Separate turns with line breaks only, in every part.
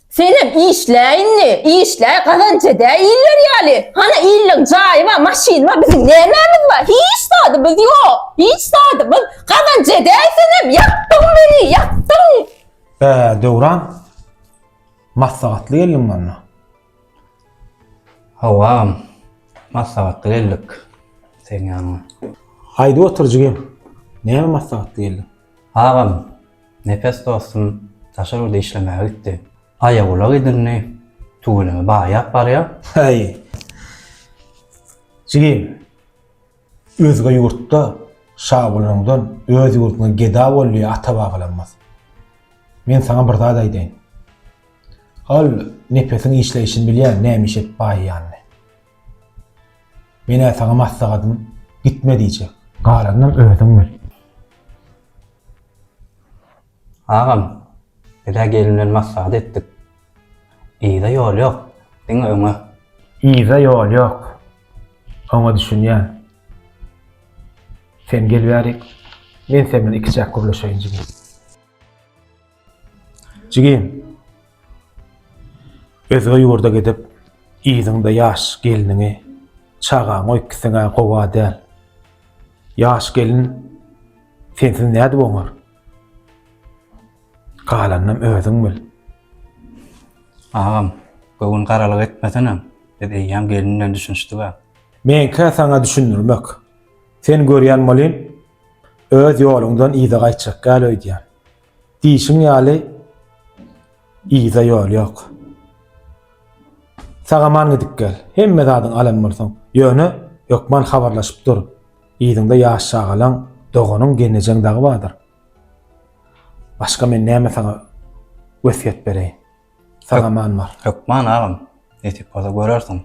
Senem işle indi, işle, gazanç edäý iller ýaly. Hany illiň jaýy bar, maşyny bar, biziň nämämiz bar? Hiç zadymyz ýok, hiç zadymyz. Gazanç edäý senem, ýakdyň meni, ýakdyň! Bä, Döwran,
maslahatly geldiň bolna.
Hawa, agam, maslahatly geldik seň ýanyňa. Haýdy otur
jigim, näme maslahatly geldiň? Agam,
Nepes dostum daşary ýurda işlemäge gitdi. Aýagulak edindi, tüweleme baýap barýar. Häý.
Jigim, özge ýurtda şa bolanyňdan öz ýurduňda geda bol diýen ata bagylanmaz. Men saňa bir zat aýdaýyn. Ol Nepesiň işleýşini bilýär, näme iş edip baýýanyny. Menä saňa maslahatym, gitme diýjek. Galanynam özüň bil.
Agam, biz-ä gelin bilen maslahat etdik. Yza ýol ýok, diňe öňe. Yza
ýol ýok. Oňa düşünýän. Sen gel bärik, men sen bilen ikiçäk gürleşeýin jigim. Jigi, özge ýurda gidip, yzyňda ýaş gelniňi, çagaňy öýtgseň-ä gowa däl. Ýaş gelin sensiz nädip oňar? Galanynam özüň bil. Agam,
göwün garalyk etmesenem, biz eýýäm gelin bilen düşünişdik-ä. Meňkä saňa
düşündirmek. Sen görýän welin, öz ýoluňdan yza gaýtjak däl öýdýän. Diýşiň ýaly yza ýol ýok. Sag-aman gidip gel. Hemme zadyň alan bolsaň. Ýöne hökman habarlaşyp dur. Yzyňda ýaş çagalaň, doganyň, gelnejeň dagy bardyr. Başga men näme saňa wesýet bereýin? Saňa man bar. Hökman agam.
Nesip bolsa görersiň.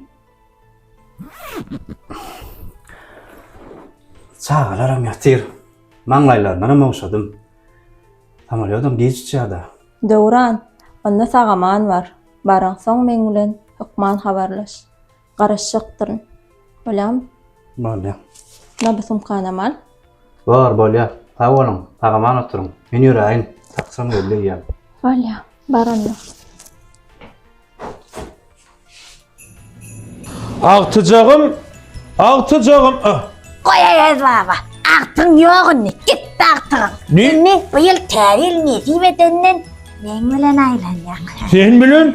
Çagalaram ýatyr. Maňlaýlaryndanam ogşadym. Samolýodam giç uçýa-da. Döwran,
onda saga man bar. Baryňsoň meň bilen hökman habarlaş. Garaşjakdyryn. Bolýamy? Bolýar.
Mundan bir
sumkana mal. Bor,
bolýar. Sag boluň, sag-aman oturyň. Men ýöräýin, taksym geldi eýýäm. Bolýar,
bar onda.
Agtyjagym, agtyjagym. Ah, Goý
Aýaz baba, agtygyň ýok indi, gitdi agtygyň. Nirmi? Bu ýyl
täze
ýyl nesip edenden Neň bilen aýlanýaň? Sen bilen?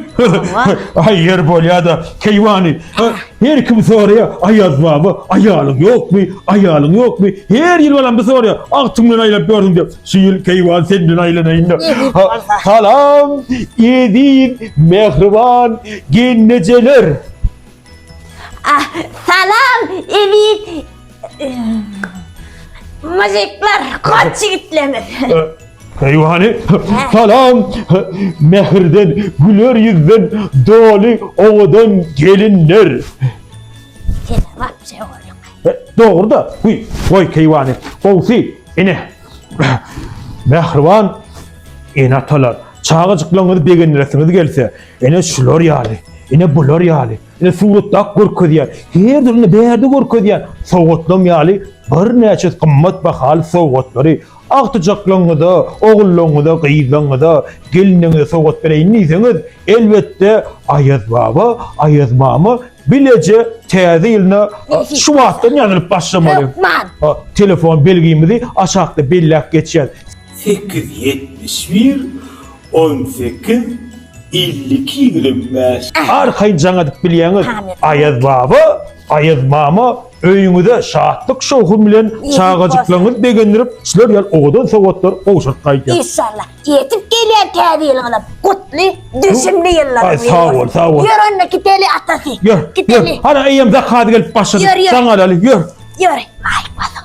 Aý ýer bolýa-da, keýwany. Her kim soraýa, Aýaz baba, aýalyň ýokmy? Aýalyň ýokmy? Her ýyl balam bu soraýa, Agtyň bilen aýlap ýörüň diýip. Şu ýyl keýwan sen bilen aýlanaýyn-da. Salam, eziz, mähriban gelnejeler.
Ah, salam, elit muzikler, koç ýigitlerimiz. Peýwany,
salam, mähirden, güler ýüzden doly owadan gelinler.
Sen wapşe oglum. Dogry-da, guý,
goý keýwany, gowsy, ine, mähriban ene-atalar, çagajyklaryňyzy begendiresiňiz gelse, Ene şular ýaly, ene bular ýaly, ene suratda görkezýän, her dürli bärde görkezýän sowgatlam ýaly birnäçe gymmat bahaly sowgatlary agtyjaklaryňyza, ogullaryňyza, gyzlaryňyza, gelinleriňize sowgat bereýin diýseňiz, elbetde, Aýaz baba, Aýaz mama bileje Täze ýylyna şu wagtdan ýazylyp başlamaly. Hökman. Ha,
Telefon belgimizi
aşakda belläp geçýäs. sekiz ýetmiş bir On sekiz, elli iki, ýigrimi bäş. Arkaýyn jaň edip bilýäňiz. Aýaz baba, Aýaz mama öýüňize şatlyk-şowhun bilen çagajyklaryňyzy begendirip, sizler ýaly owadan sowgatlar gowşuryp gaýdýar. Inşallah, ýetip
gelýän Täze ýylyňyzam gutly, düşümli ýyllar Aý, bolsun. sag bol, sag bol.
Ýör onda gideli atasy. Ýör, ýör. Gideli.
Hana
eýýäm
zakaz
gelip
başlady. Ýör,
ýör. Jaň
alaly,
ýör. Ýör, maýyp bolsun.